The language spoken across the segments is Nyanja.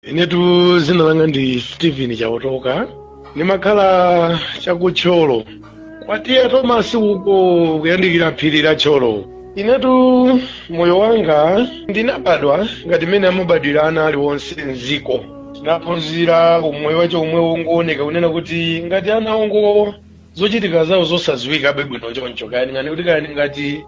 inetu zina langa ndi steven chaotoka ndimakhala chakuthyolo kwa TA tomasi uko kuyandikira phiri la thyolo inetu moyo wanga ndinabadwa ngati mmene amabadwira ana aliwonse mziko tinaphunzira umoyo wache umwe wongooneka kunena kuti ngati ana ongo zochitika zawo zosaziwika bwino choncho kaya ndingati kuti kaya ndingati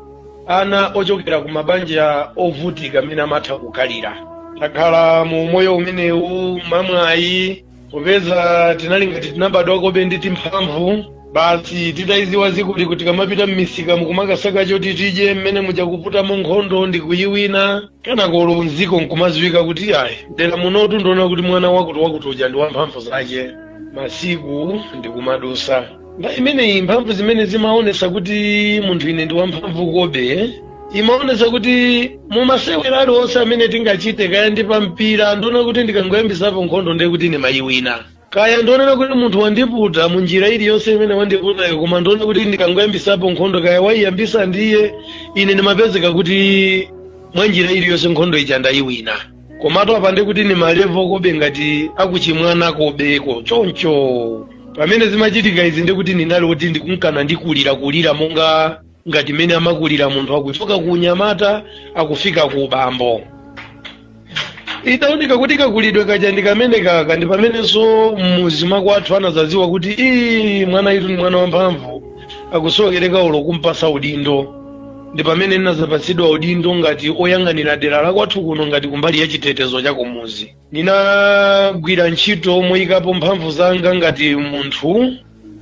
ana ochokera ku mabanja ovutika amene amatha kukhalira takhala mu umoyo umenewu mamwayi popeza tinali ngati tinabadwakobe ndi timphamvu basi titayiziwa zikuli kuti tikamapita mmisika mukumakasaka choti tidye mmene muja kuputamo nkhondo ndi kuyiwina kanakolo mziko nkumaziwika kuti ayi mdera munotu ndiona kuti mwana wakuti wakuti uja ndi wamphamvu zache masiku ndikumadusa nthawi imeneyi mphamvu zimene zimaonesa kuti munthu ine ndi wamphamvu kobe imaonesa kuti mumasewera aliwonse amene tingachite kaya ndi pampira ndiona kuti ndikangoyambisapo nkhondo ndiye kuti ndimayiwina kaya ndionera kuti munthu wandiputa mu njira iliyonse imene wandiputayo koma ndione kuti ndikangoyambisapo nkhondo kaya waiyambisa ndiye ine ndimapezeka kuti mwa njira iliyonse nkhondo ija ndayiwina komatu apa nde kuti ni malevo kobe ngati akuchimwana kobeko choncho pamene zimachitika izi nde kuti ndinali oti ndikunkana ndikulirakulira monga ngati mmene amakulira munthu akuchoka ku unyamata akufika ku ubambo itaoneka kuti kakulidwe kaja ndi kamene kaka ndi pamenenso mmuzi mwakwathu anazaziwa kuti ii mwana itu ndi mwana wamphamvu akusokereka ulo kumpasa udindo ndi pamene ndinazapatsidwa udindo ngati oyang'anira dera la kwathu kuno ngati kumbali ya chitetezo cha kumuzi ndinagwira ntchito moyikapo mphamvu zanga ngati munthu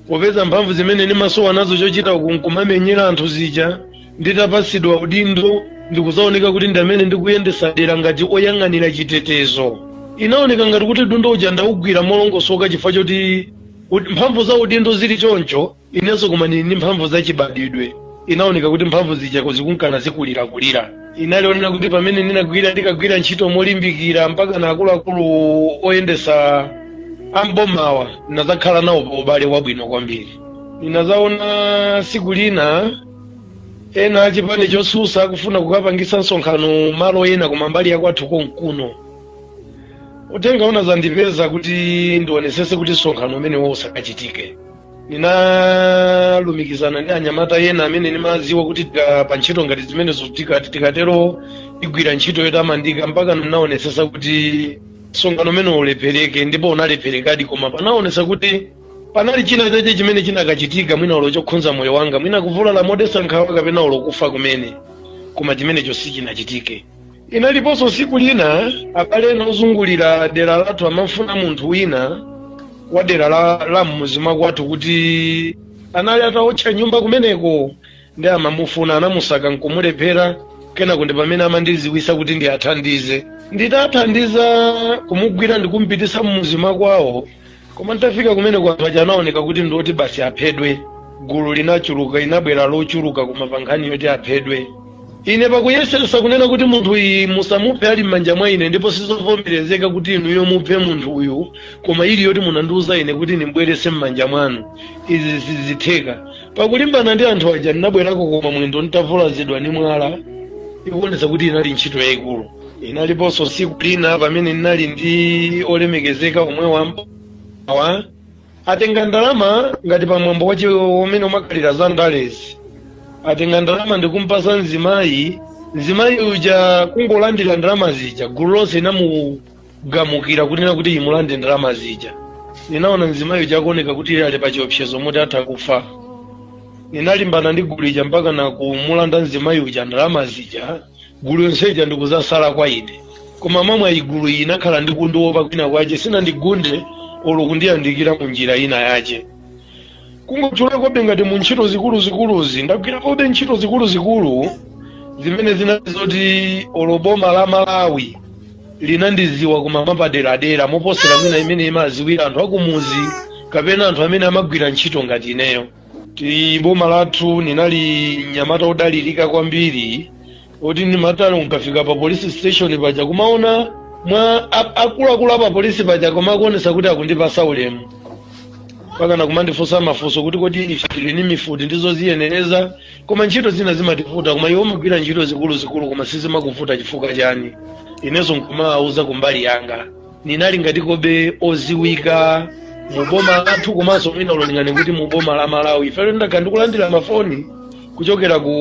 popeza mphamvu zimene ndimasowa nazo chochita ku nkumamenyera anthu zija nditapatsidwa udindo ndikuzaoneka kuti nda amene ndikuyendesa dera ngati oyang'anira chitetezo inaoneka ngati kuti udindo uja ndaugwira molongosoka chifukwa choti mphamvu za udindo zili choncho inenso kuma ndili ndi mphamvu za chibadidwe inaoneka kuti mphamvu zija zikunkana zikulirakulira inalionera kuti pamene ndinagwira ndikagwira ntchito molimbikira mpaka na akuluakulu oyendesa ambomawa ndinazakhala nawo pa ubale wabwino kwambiri ndinazaona siku lina ena achipani chosusa akufuna kukapangisa msonkhano malo ena koma mbali yakwathu konkuno uthenga unazandipeza kuti ndionesese kuti msonkhano umenewo usakachitike ndinalumikizana ndi anyamata ena amene ndimaziwa kuti pa ntchito ngati zimenezo tikathe kukaigwira ntchito yotamandika mpaka ndinaonesesa kuti msonkhano umenewo ulephereke ndipo unalepherekadi koma panaonesa kuti panali china chache chimene chinakachitika mwina ulo chokhunza moyo wanga mwina kuvulala modesa nkhawa kapena ulo kufa kumene koma chimenecho sichinachitike inaliponso tsiku lina abale ena ozungulira dera lathu amafuna munthu wina wa dera la, la mmuzi mwakwathu kuti anali ataotcha nyumba kumeneko ndi amamufuna anamusaka nkumulephera kenako ndi pamene amandiziwisa kuti ndiwathandize nditathandiza kumugwira ndikumupititsa mmuzi mwakwawo koma nditafika kumene kwa anthu aja anaoneka kuti ndi oti basi aphedwe gulu linachuluka linabwera lochuluka koma pa nkhani yoti aphedwe ine pakuyesesa kunena kuti munthu iyi musamuphe ali m'manja mwa ine ndipo sizovomerezeka kuti inuyo muphe munthu uyu koma ili yoti munandiuza ine kuti ndimbwerese m'manja mwanu izi sizitheka pakulimbana ndi anthu aja ndinabwerako koma mwendo nditavulazidwa ndi mwala ikuonesa kuti inali ntchito yayikulu inaliponso tsiku lina pamene ndinali ndi olemekezeka omwe wambawa atenga ndalama ngati pamwambo wake umene umakhalira za ndalezi atenga ndalama ndikumpasa mzimayi mzimayi uja kungolandira ndalama zija gulu lonse inamugamukira kunena kuti imulande ndalama zija ninaona mzimayi uja akuoneka kuti ali pa chiopsezo moti atha kufa ninalimbana ndi gulu ija mpaka na kumulanda mzimayi uja ndalama zija gulu yonse ija ndikuzasala kwa ine koma mmamwe gulu iyi inakhala ndi kundiwopa kwina kwache sinandigunde olo kundiyandikira mu njira ina yache kungotchula kobe ngati mu ntchito zikuluzikuluzi ndagwira kobe ntchito zikuluzikulu zimene zinali zoti olo boma la malawi linandiziwa koma mapaderadera moposera mwina mmene imaziwira anthu akumuzi kapena anthu amene amagwira ntchito ngati ineyo kuti boma lathu ninali mnyamata odalirika kwambiri oti ndimati olo nkafika pa police station paja kumaona mwa akuluakulu a pa polisi paja koma akuonesa kuti akundipasa ulemu mpaka na kumandifunsa mafunso kuti kodi ife tili ni mifuti ndizoziyenereza koma ntchito zina zimativuta koma iwe umagwira ntchito zikuluzikulu koma sizimakuvuta chifukwa chani inenso nkumawauza kumbali yanga ninali ngati kobe oziwika mu boma lathu komanso mwina olo ningane kuti mu boma la malawi ifeyo ndakhala ndikulandira mafoni kuchokera ku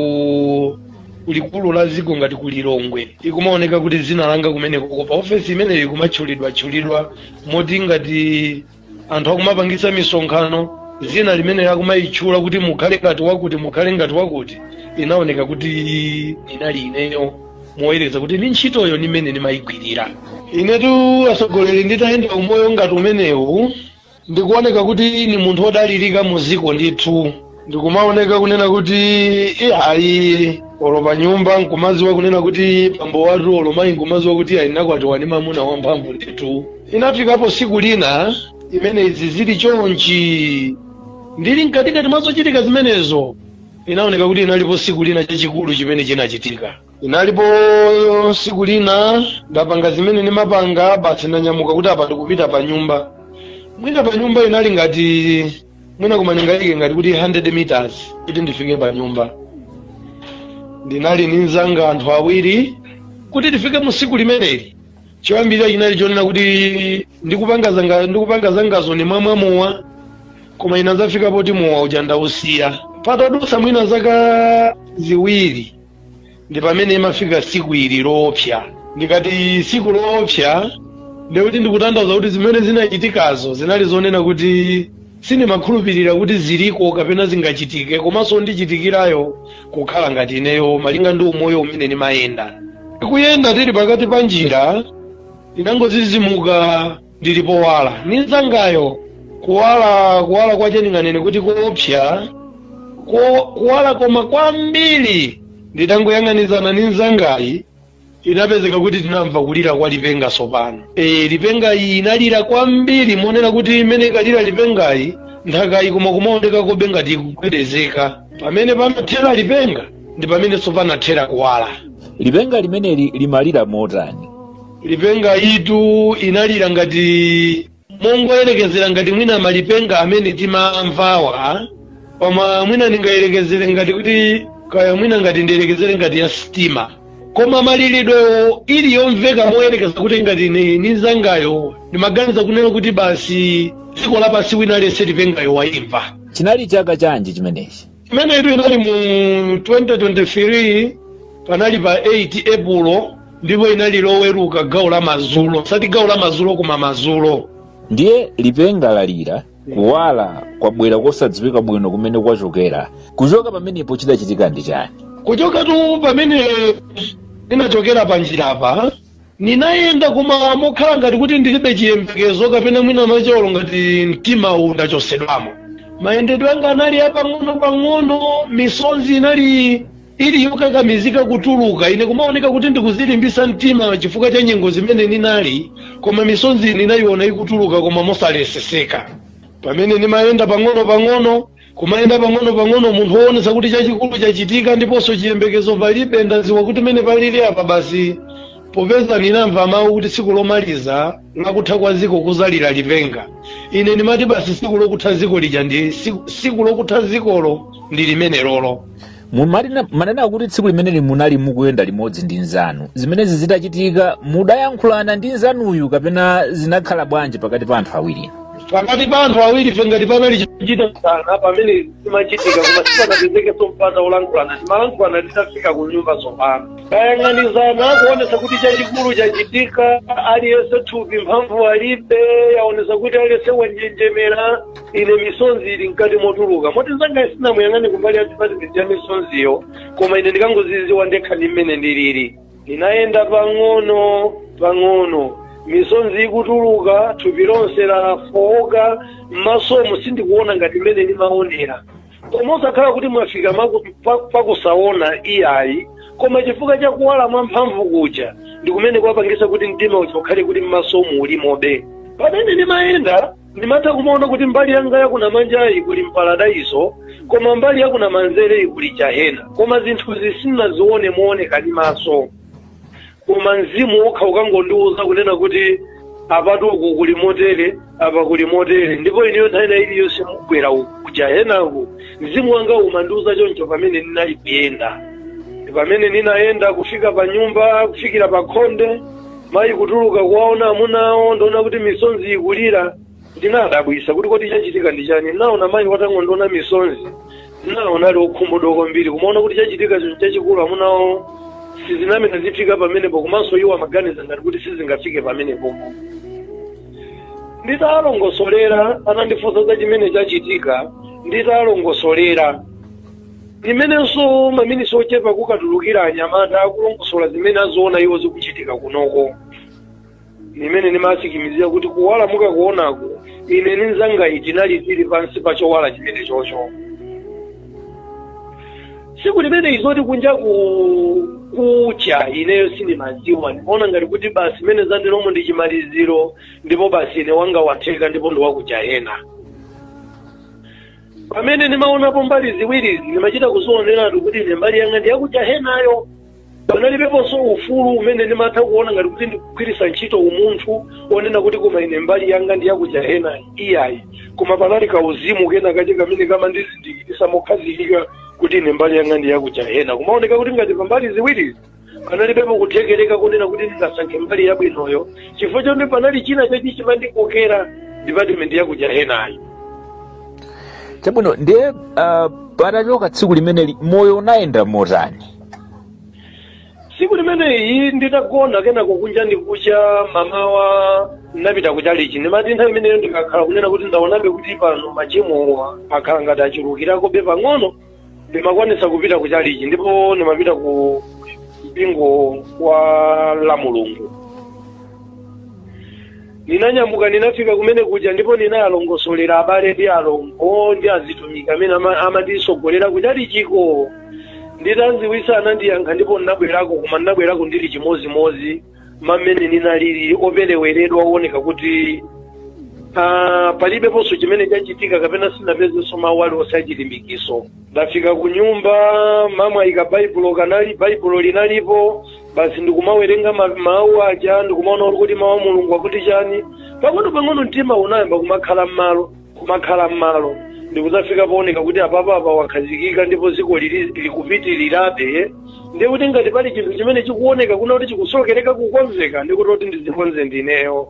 likulu la dziko ngati ku lilongwe ikumaoneka kuti dzina langa kumeneko pa ofesi imeneyi ikumatchulidwatchulidwa moti ngati anthu akumapangitsa misonkhano zina limene akumayitchula kuti mukhale ngati wakuti mukhale ngati wakuti inaoneka kuti inali ineyo moyerekeza kuti ndi ntchitoyo ni mmene nimayigwirira inetu atsogoleri nditayenda umoyo ngati umenewu ndikuoneka kuti ni munthu odalirika mu dziko ndithu ndikumaoneka kunena kuti ayi olo pa nyumba nkumaziwa kunena kuti bambo wathu olo mayi nkumaziwa kuti ayi nakwatiwa ndi mamuna wamphamvu ndithu inafikapo siku lina imene izi zili chonchi ndili mkatikati mwa zochitika zimenezo inaoneka kuti inalipo siku lina chachikulu chimene chinachitika inalipo siku lina ndapanga zimene ndimapanga basi ndanyamuka kuti apa ndikupita pa nyumba mwina pa nyumba inali ngati mwina koma ndingayike ngati kuti 100 meters kuti ndifike pa nyumba ndinali ndi mzanga anthu awiri kuti tifike mu tsiku limeneli choyambirira chinali chonena kuti ndikupanga zanga ndikupanga zangazo nimamwa mowa koma inadzafika poti mowa uja ndausiya patadutsa mwina zaka ziwiri ndi pamene imafika siku ili loopsa ndikati siku loopsa ndiye kuti ndikutanthauza kuti zimene zinachitikazo zinali zonena kuti sindimakhulupirira kuti ziliko kapena zingachitike komanso kundichitikirayo kukhala ngati ineyo malinga ndi umoyo umene ndimayenda tikuyenda tili pakati pa njira ndinangozizimuka ndili powala, ninzangayo kuwala kuwala kwache ndinganene kuti koopsa ko- kuwala koma kwambiri nditangoyang'anizana ndi nzangayo inapezeka kuti tinamva kulira kwa lipenga sopano e, lipenga iyi inalira kwambiri monena kuti imene ikalira lipengayi nthakayi koma kumaonekakobe ngati ikugwedezeka pamene panathera lipenga ndi pamene nso panathera kuwala lipenga limeneli limalira motani lipengayitu inalira ngati mongoyerekezera ngati mwina malipenga amene timamvawa koma mwina ndingayerekezere ngati kuti kaya mwina ngati ndiyerekezere ngati ya sitima koma malilidwewo ali yomveka moyerekeza kuti ngati ni ni zangayo ndimaganiza kunena kuti basi dziko lapansi wina aliyense lipengayo wayimva chinali chaka chanji chimenechi imeneyitu inali mu 2023 panali pa 8 epulo ndipo inali loweruka gawo la mazulo osati gawo la mazulo koma mazulo ndiye lipenga lalira kuwala kwabwera kosadziwika bwino kumene kwachokera kuchoka pamenepo chidachitika ndi chani kuchokatu pamene ninachokera pa njira apa ninayenda koma mokhala ngati kuti ndilibe chiyembekezo kapena mwina macholo ngati mtima uwu ndachosedwamo mayendedwe anga anali apang'ono-pang'ono misonzi inali ili yokakamizika kutuluka ine kumaoneka kuti ndikuzilimbisa mtima chifukwa cha nyengo zimene ninali koma misonzi ninayiona ikutuluka koma mosaleseseka pamene nimayenda pang'ono-pang'ono kumayenda pang'ono-pang'ono munthu woonetsa kuti chachikulu chachitika ndiponso chiyembekezo palibe ndaziwa kuti mene palili apa basi popeza ndinamva mawu kuti tsiku lomaliza lakutha kwa ziko kuzalira lipenga ine ndimati basi tsiku lokutha ziko lija ndi tsiku- tsiku lokutha zikolo ndi limenelolo Mumanena kuti tsiku limeneli munali mukuyenda limodzi ndi nzanu zimenezi zitachitika mudayankhulana ndi nzanuyu kapena zinakhala bwanji pakati pa anthu awiri pakati pa anthu awiri ife ngati panali chikuchitasana pamene zimachitika koma sipanapezeke mpata wolankhulana timalankhulana titafika ku nyumba tsopano kayang'anizana kuonesa kuti chachikulu chachitika aliyense thupi mphamvu alibe yaonesa kuti aliyense wanjenjemera ine misonzi ili mkati motuluka moti nzanga sinamuyang'ane kumbali ya department ya misonziyo koma ine ndikangoziziwa ndekha ndi mmene ndilili ndinayenda pang'ono pang'ono misonzi ikutuluka thupi lonse lafooka m'masomo sindikuona ngati mmene ndimaonera koma osakhala kuti mwafika pakusaona iyayi koma chifukwa cha kuwala mwa mphamvu kuja ndi kumene kwapangisa kuti mdima uja ukhale kuti m'masomo ulimobe pamene ndimayenda ndimatha kumaona kuti mbali yanga yakunamanjayi kuli mparadaiso koma mbali yakunamanzereyi kuli jahena koma zinthuzi sinazione mooneka ndi maso koma mzimu wokha ukangondiwuza kunena kuti apatu uku kuli motere apa kuli motere ndipo ineyo nthawi ina iliyonse mugwera kujahenaku mzimu wanga umandiwuza choncho pamene ndinali kuyenda pamene ndinayenda kufika pa nyumba kufikira pa khonde mayi kutuluka kuwaona amuna awo ndikuona kuti misonzi ikulira ndinadabwisa kuti kodi chachitika ndi chani ndinaona mayi atangondiona misonzi ndinaona ali okhumudwa kwambiri kumaona kuti chachitika chinthu chachikulu amuna awo sizinamene zifika pamenepo komanso iwo amaganiza ngati kuti sizingafike pamenepo nditalongosolera anandifunsa za chimene chachitika nditalongosolera limenenso maminisi ochepa kukatulukira anyamata akulongosola zimene aziona iwo zikuchitika kunoko ndi mmene ndimasikimizira kuti kuwala mukakuonako ine ndi mnzangayi tinali tili pansi pa chowala chimene chocho tsiku limeneli zoti kunja kukucha ineyo sindimadziwa ndimaona ngati kuti basi mmene zaliramo ndi chimaliziro ndipo basi ine wanga watheka ndipo ndi wakujahena pamene ndimaonapo mbali ziwirizi ndimachita kuzioneratu kuti ine mbali yanga ndi yakujahenayo panalibeponso ufulu umene ndimatha kuona ngati kuti ndikugwiritsa ntchito umunthu onena kuti koma ine mbali yanga ndi yakujahena iyayi koma panali kauzimu kena kache kamene kamandizindikirisa mokhazikika kuti ine mbali yanga ndi yakujahena kumaoneka kuti ngati pambali ziwirizi panalibepo kuthekereka kunena kuti ndingasankhe mbali yabwinoyo chifukwa choti panali china chake chimandikokera dipatimenti ya kujahenayo chabwino ndiye uh, patachoka tsiku limeneli moyo unayenda motani tsiku limeneyi nditagona kenako kunja ndikucha mamawa ndinapita kuchalichi ndimati nthawi imeneyo ndikakhala kunena kuti ndaonabe kuti pano machimowa akhala ngati achulukirakobe pang'ono ndimakwanisa kupita ku chalichi ndipo ndimapita ku mpingo wa la mulungu ndinanyamuka ndinafika kumene kuja ndipo ndinawalongosolera abale ndi alongo ndi azitumiki amene ama- amandisogolera ku chalichiko nditawaziwisa anandiyankha ndipo ndinabwerako koma ndinabwerako ndili chimozimozi mmene ninalili opereweredwa owoneka kuti ah, palibeponso chimene chachitika kapena sinapezenso mawu aliwonse achilimbikiso ndafika ku nyumba mwamwayi kabaibulo kanali baibulo linalipo basi ndikumawerenga ma- mawu aja ndikumaona kuti mawu a mulungu akuti chani pang'ono pang'ono mtima unayamba kumakhala m'malo kumakhala m'malo ndikudzafika pooneka kuti apapa apa wakhazikika ndipo dziko lili likupitirirabe ndiye kuti ngati pali chinthu chimene chikuoneka kuna kuti chikusowekereka kukonzeka ndikuti kuti ndizikonze ndineyo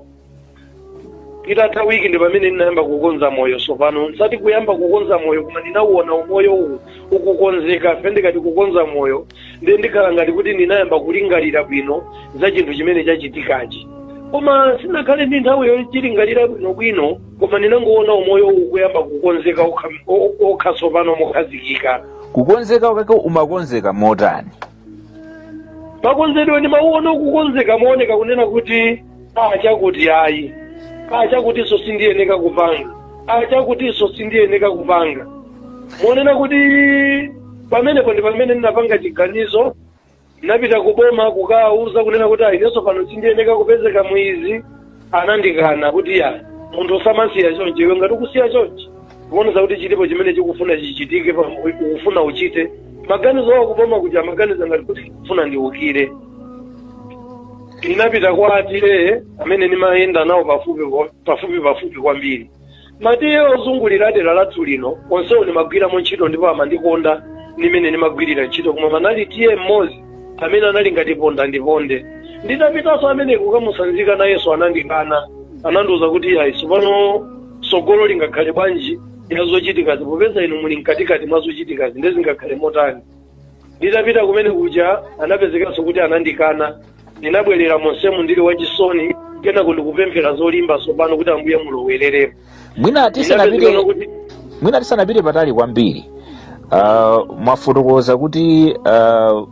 itatha wiki ndi pamene ndinayamba kukonza moyo sopano osati kuyamba kukonza moyo koma ndinauona umoyo uwu ukukonzeka fe ndikati kukonza moyo ndiye ndikhala ngati kuti ndinayamba kulingalira bwino za chinthu chimene chachitikachi koma sinakhale ndi nthawi yochilingalira bwinobwino koma ndinangoona umoyowu kuyamba kukonzeka okha- o- okha tsopano mokhazikika kukonzeka kwake umakonzeka motani makonzedwe ndimauona kukonzeka mooneka kunena kuti a chakuti ayi a chakutinso sindiyeneka kupanga a chakutinso sindiyeneka kupanga monena kuti pamenepo ndi pamene ndinapanga chiganizo ndinapita ku boma kukawauza kunena kuti ayi inenso pano sindiyeneka kupezeka mu izi anandikana kuti ya munthu samasiya chonchi iwe ngati ukusiya chonchi kuonesa kuti chilipo chimene chikufuna chichitike pa- ukufuna uchite maganizo awo kuboma kuja amaganiza ngati kuti kufuna ndiukire ndinapita kwa a TA amene ndimayenda nawo pafupi pafupi pafupi kwambiri ma TA ozungulira dera lathu lino onsewo ndimagwiramo ntchito ndipo amandikonda ndi mmene ndimagwirira ntchito koma panali TA mmodzi amene anali ngati ponda ndiponde nditapitanso ameneyo kukamusanzika nayenso anandikana anandiuza kuti ayi tsopano tsogolo lingakhale bwanji ya zochitikazi popeza inu muli mkatikati mwa zochitikazi nde zingakhale motani nditapita kumene kuja anapezekanso kuti anandikana ndinabwerera monsemu ndili wachisoni kenako ndikupemphera zolimba tsopano kuti ambuye mulowererepo mwina tisanapite patali kwambiri uh, mwafotokoza kuti uh,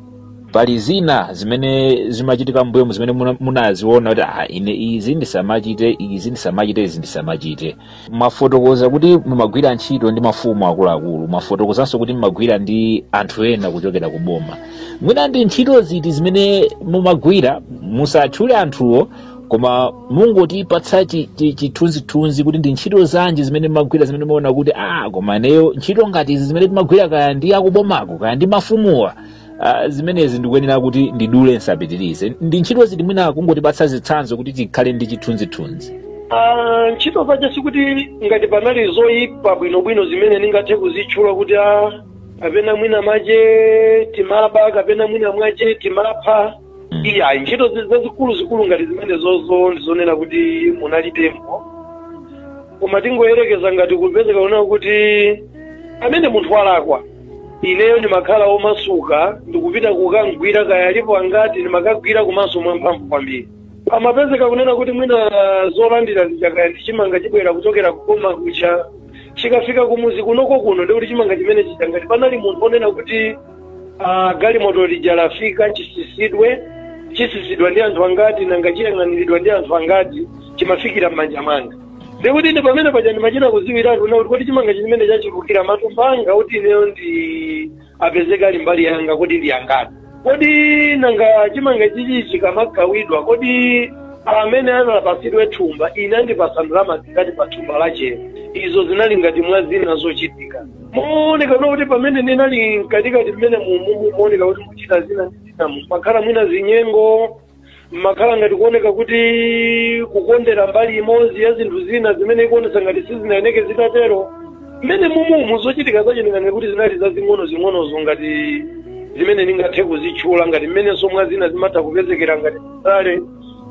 pali zina zimene zimachitika mbuyomu zimene muna- munaziona kuti ah, ine izi ndisamachite izi ndisamachite izi ndisamachite mwafotokoza kuti mumagwira ntchito ndi mafumu akuluakulu mwafotokozanso kuti mumagwira ndi anthu ena kuchokera ku boma mwina ndi ntchito ziti zimene mumagwira musatchule anthuwo koma mungotipatsa chi- chi- chithunzithunzi kuti ndi ntchito zanji zimene mumagwira zimene mumaona kuti ah koma neyo ntchito ngati izi zimene timagwira kaya ndi akubomako kaya ndi mafumuwa Ah, zimenezi ndikuyenera kuti ndidule nsapitirize ndi ntchito ziti mwina kungotipatsa zitsanzo kuti tikhale ndi chithunzithunzi Ah, ntchito zache sikuti ngati panali zoyipa bwinobwino zimene ndingathe kuzitchula kuti a kapena mwina mache timaba kapena mwina mwache timapha iyayi ntchito zi- zazikuluzikulu ngati zimene zozo ndizonena kuti munalitempo koma tingoyerekeza ngati kupezeka kunena kuti amene munthu walakwa ineyo ndimakhala omasuka ndikupita kukamgwira kaya alipo angati ndimakawagwira komanso mwamphamvu kwambiri pamapezeka kunena kuti mwina zolandira zija kaya ndi chimanga chibwera kuchokera kuboma kuja chikafika kumuzi kunoko kuno ndikuti chimanga chimene chija ngati panali munthu onena kuti ah, galimoto lija lafika chitsitsidwe chitsitsidwa ndi anthu angati nanga chiyang'aniridwa ndi anthu angati chimafikira m'manja mwanga ndikuti ndi pamene paja ndimachita kudziwiratu kunena kuti kodi chimanga chimenechi achulukira matumba angati ineyo nditi apezeke ali mbali yanga kodi ndi angati kodi nanga chimanga chichi chikamagawidwa kodi amene atapatsidwe thumba ine andipatsa ndalama zingati pa thumba lachelo izo zinali ngati mwa zina zochitika mooneka kunena kuti pamene ndinali mkatikati mmenemumu mooneka kuti muchita zina ndi zina mumakhala mwina zinyengo mmakhala ngati kuoneka kuti kukondera mbali imodzi ya zinthu zina zimene ikuonetsa ngati sizinayeneke zinatero mmenemumu zochitika zachezo ndingati kuti zinali zazing'ono zing'onozo ngati zimene ndingathe kuzitchula ngati mmenenso mwa zina zimatha kupezekera ngati tsale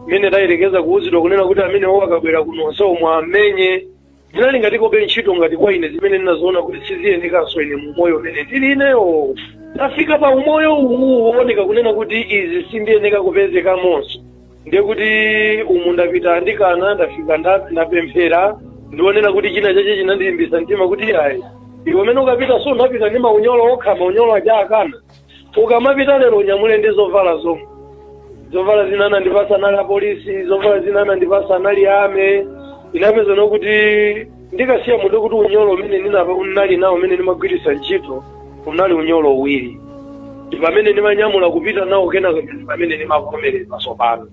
mmene tayerekeza kuuzidwa kunena kuti amenewo akabwera kuno onsewo muwamenye zinali ngatikobe ntchito ngati kwa ine zimene ndinaziona kuti siziyenekanso ine mu umoyo umene ndili ineyo ndafika pa umoyo uwu wooneka kunena kuti izi sindiyeneka kupezekamonso ndiye kuti umu ndapita andikana ndafika nda- ndapemphera ndi zonena kuti china chache chinandilimbisa mtima kuti ayi iwe umene ukapitenso unapita ndi maunyolo okha maunyolo aja akana ukamapita lero unyamule ndi zovala zomwe zovala zina anandipasa anali apolisi zovala zina anandipasa anali ame inapeza nokuti ndikasiya ndi kuti unyolo umene ndinali nawo umene ndimagwiritsa ntchito unali unyolo uwiri ndi pamene ndimanyamula kupita nawo kenako ndi pamene ndimavomereza tsopano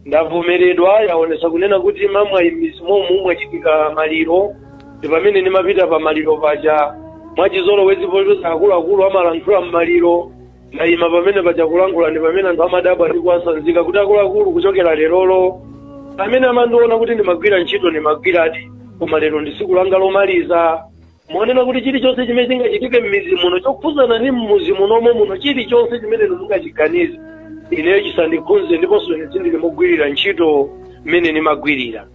ndavomeredwa yaonesa kunena kuti mwamwayi m'mizi momu mwachitika maliro ndi pamene ndimapita pa maliro paja mwachizolowezi pocheza akuluakulu amalankhula m'maliro ndayima pamene paja kulankhula ndi pamene anthu amadabwa ndi kuwasanzika kuti akuluakulu kuchokera lerolo amene amandiona kuti ndimagwira ntchito ndimagwiradi koma lero ndi tsiku langa lomaliza monena kuti chilichonse chimene chingachitike m'mizi muno chokhuzana ndi m'muzi munomo muno chilichonse chimene inu mungachiganize ineyo chisandikhunze ndiponso ine sindili mogwirira ntchito mmene ndimagwirira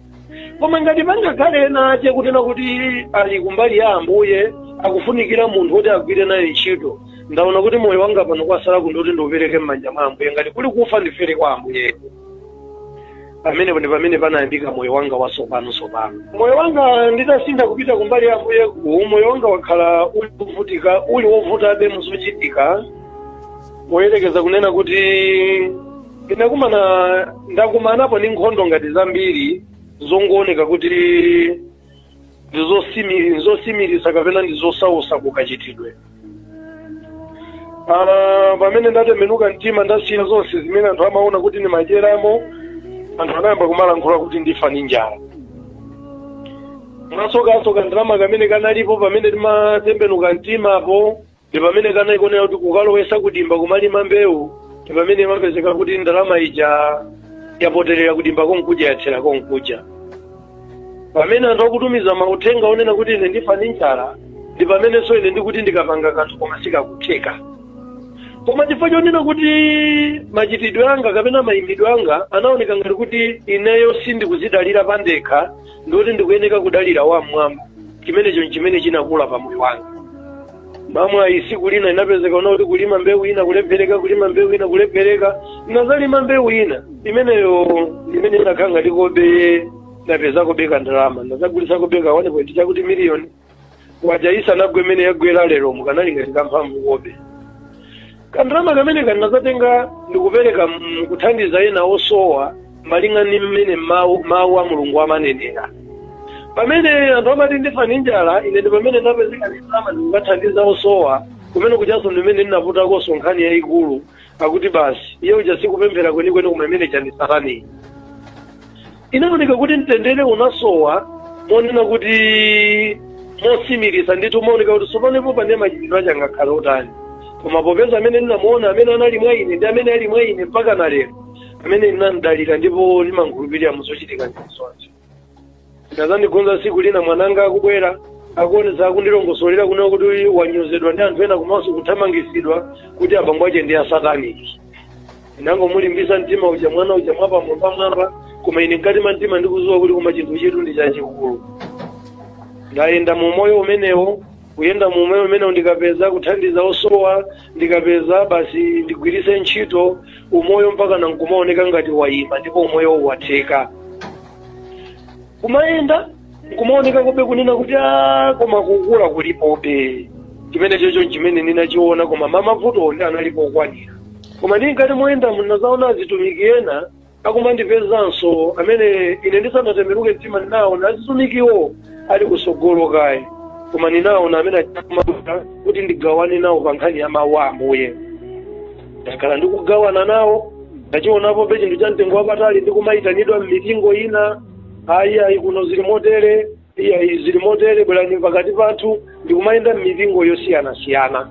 koma ngati pangakhale ena ache kunena kuti ali kumbali ya ambuye akufunikira munthu woti agwire naye ntchito ndaona kuti moyo wanga pano kwasala ndi kuti ndiupereke m'manja mwa ambuye ngati kuli kufa ndifere kwa ambuye pamenepo ndi pamene panayambika moyo wanga wasopano sopano moyo wanga nditasintha kupita kumbali ya ambuye ku moyo wanga wakhala uli wovutika uli wovutabe muzochitika poyerekeza kunena kuti ndinakumana ndakumanapo ndi nkhondo ngati zambiri zongooneka kuti ndizosimi- ndizosimiritsa kapena ndizosausa kukachitidwe Ah, pamene ndatembenuka mtima ndasiya zonse zimene anthu amaona kuti ndimadyeramo anthu anayamba kumalankhula kuti ndifa ndi njala mwasoka kandalama kamene kanalipo pamene ndimatembenuka mtimapo ndi pamene ndinaikonera kuti kukalowesa kudimba kumalima mbewu ndi pamene imapezeka kuti ndalama ija yapoterera kudimba konkuja yathera konkuja pamene anthu akutumiza mauthenga onena kuti ine ndifa ndi njala ndi pamenenso ine ndikuti ndikapanga kanthu koma sikakutheka koma chifukwa chonena kuti machitidwe anga kapena mayimbidwe anga anaoneka ngati kuti ineyo sindikuzidalira pandekha ndikuti ndikuyeneka kudalira wam'mwamba chimenecho nchimene chinakula pa moyo wanga mwamwayi siku lina inapezeka kunena kuti kulima mbewu ina kulephereka kulima mbewu ina kulephereka ndinazalima mbewu ina imeneyo imene inakhala ngati kobe ndapezakobe ka ndalama ndazagulitsakobe ka 1.2 kuti miliyoni kwacha isanagwe mmene yagwera lero ikanali ngati kamphamvukobe kandalama kamene ndinazatenga ndikupereka m- kuthandiza ena osowa malinga ndi mmene mawu mawu a mulungu amanenera pamene anthu amati ndifa ndi njala ine ndi pamene ndapezeka ndi ndalama ndikukathandiza osowa kumene kujanso ndi mmene ndinaputakonso nkhani yayikulu akuti basi iye uja sikupemphera kwenikweni koma imene chani sataniyi inaoneka kuti mtendere unasowa monena kuti mosimiriza ndithu umaoneka kuti tsopanopo pane machitidwe ache angakhale otani koma popeza amene ndinamuona amene anali mwa ine ndi amene ali mwa ine mpaka na lero amene ndinamdalira ndipo ndimankhulupirira muzochitika ndizonse zinazandikhudza tsiku lina mwananga akubwera akuonesa akundilongosolera kunena kuti uyu wanyozedwa ndi anthu ena komanso kuthamangisidwa kuti abambo ache ndi asataniki ndinangomulimbisa mtima uja mwana uja mwapamwambamwamba koma ine mkati mwa mtima ndikuziwa kuti koma chinthu chetu ndi chachikulu ndayenda mu moyo umenewo kuyenda mu moyo umenewo ndikapeza kuthandiza osowa ndikapeza basi ndigwiritse ntchito umoyo mpaka nankumaoneka ngati wayima ndipo umoyo watheka kumayenda nkumaoneka kobe kunena kuti "Ah, koma kukula kulipobe chimene chocho nchimene ndinachiona koma mamavuto ndi analipo okwanira koma ndi mkati moyenda ndinazaona azitumiki ena akumandipezanso amene ine ndisanatembenuke mtima ndinaona azitumikiwo ali kusogolo kaye koma ndinaona amene akumafuna kuti ndigawane nawo pa nkhani ya mawu a ambuye ndakhala ndikugawana nawo ndachionapo be chinthu cha mtengo wapatali ndikumayitanidwa m'mipingo ina ayi ayi kuno zili motere iyayi zili motere bwerani pakati pathu ndikumayenda m'mipingo yosiyanasiyana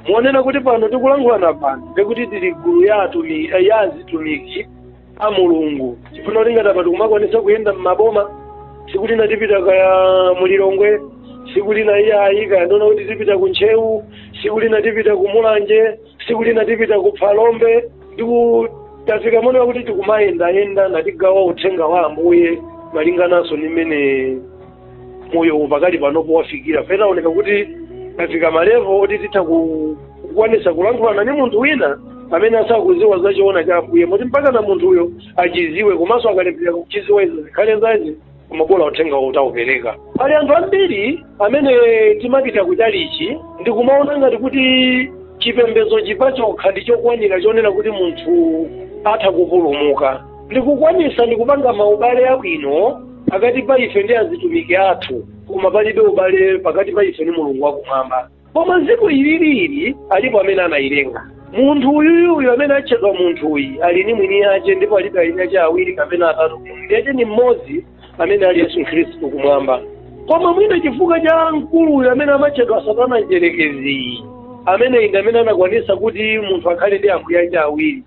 monena kuti pano tikulankhulana pano ndikuti tili gulu ya atumi eh, ya azitumiki a mulungu chifukwa kuti ngati apa tikumakwanisa kuyenda m'maboma tsiku lina tipita kaya mulilongwe tsiku lina iyayi kaya monena kuti tipita ku ntcheu tsiku lina tipita ku mulanje tsiku lina tipita ku phalombe ndiku tafika monena kuti tikumayendayenda natigawa uthenga wa ambuye malingananso ndi mmene moyo uwu pakali panopo wafikira penaoneka kuti tafika malevo oti titha ku- kukwanisa kulankhulana ndi munthu wina amene asakuziwa za choona cha ambuye moti mpaka na munthuyo achiziwe komanso akalephera kuchiziwa izo zikhale zace koma bola uthenga utaupereka pali anthu ambiri amene timapita kutchalichi ndikumaona ngati kuti chipembedzo chipachokha ndi chokwanira chonena kuti munthu atha kupulumuka tikukwanisa ndikupanga maubale abwino pakati pa ife ndi azitumiki athu koma palibe ubale pakati pa ife ndi mulungu wakumwamba koma ziko ilili alipo amene anayilenga munthu uyuyuyu amene atchedwa munthu uyi ali ni mwini yace ndipo alibe eni ace awiri kapena atatu mwini yace ni mmodzi amene ali yesu khristu kumwamba koma mwina chifukwa cha mkulu uyu amene amatchedwa satana mdyerekeziyi amene ndi amene anakwanisa kuti munthu akhale ndi ambuye ace awiri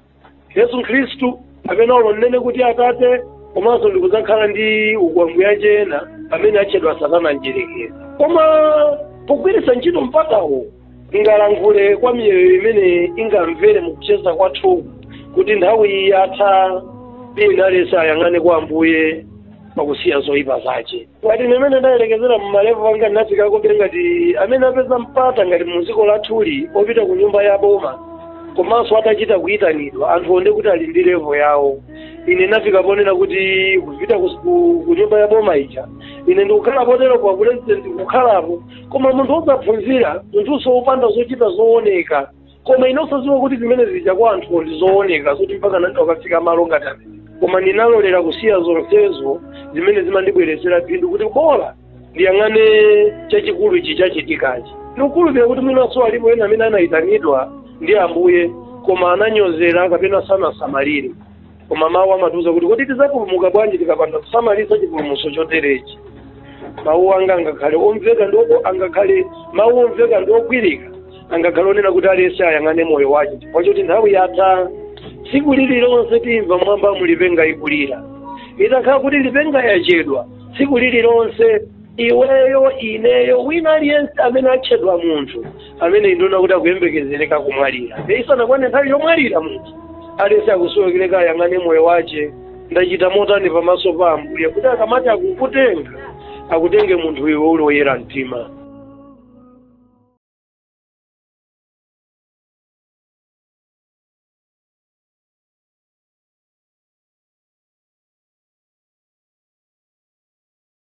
yesu khristu kapena olo nnene kuti atate komanso ndikudzakhala ndi ambuye ena amene atchedwa satana mdyerekezi koma pogwiritsa ntchito mpatawo tingalankhule kwa miyoyo imene ingamvere mukucheza kwathu kuti nthawi iyi yatha wina aliyense ayang'ane kwa ambuye pakusiya zoyipa zace ngati mmene ndayerekezera m'marevu anga ndinafikako kuti ngati amene apeza mpata ngati mu dziko lathuli opita ku nyumba ya boma komanso atachita kuyitanidwa anthu aone kuti ali ndi revu yawo ine ndafika ponena kuti kupita kus- ku ku nyumba ya boma ija ine ndikukhala potero kwa pulezidenti kukhalapo koma munthu osaphunzira munthunso wopanda zochita zooneka koma ine osadziwa kuti zimene zija kwa anthu ndi zooneka zoti mpaka munthu wakafika malo ngati amene koma ndinalolera kusiya zonsezo zimene zimandibweretsera phindu kuti bola ndiyang'ane chachikulu ichi chachitikachi ndikukhulupirira kuti mwinanso alipo ena amene anayitanidwa ndi ambuye koma ananyozera kapena sanasamalire koma mawu amatiuza kuti kodi tidzapulumuka bwanji tikapanda kusamalitsa chipulumutso choterechi mawu anga angakhale omveka ndipo angakhale mawu omveka ndiogwirika angakhale onena kuti aliyense ayang'ane moyo wace chifukwa choti nthawi yatha tsiku lililonse timva mmwambamu lipenga ikulira itakhala kuti lipenga yachedwa tsiku lililonse iweyo ineyo wina aliyense amene atchedwa munthu amene ndiona kuti akuyembekezereka kumwalira nde isanakwane nthawi yomwalira munthu aliyense akusowekereka ayang'ane moyo wace ndachita motani pamaso pa ambuye kuti akamati akukutenga akutenge munthu iwe uli woyera mtima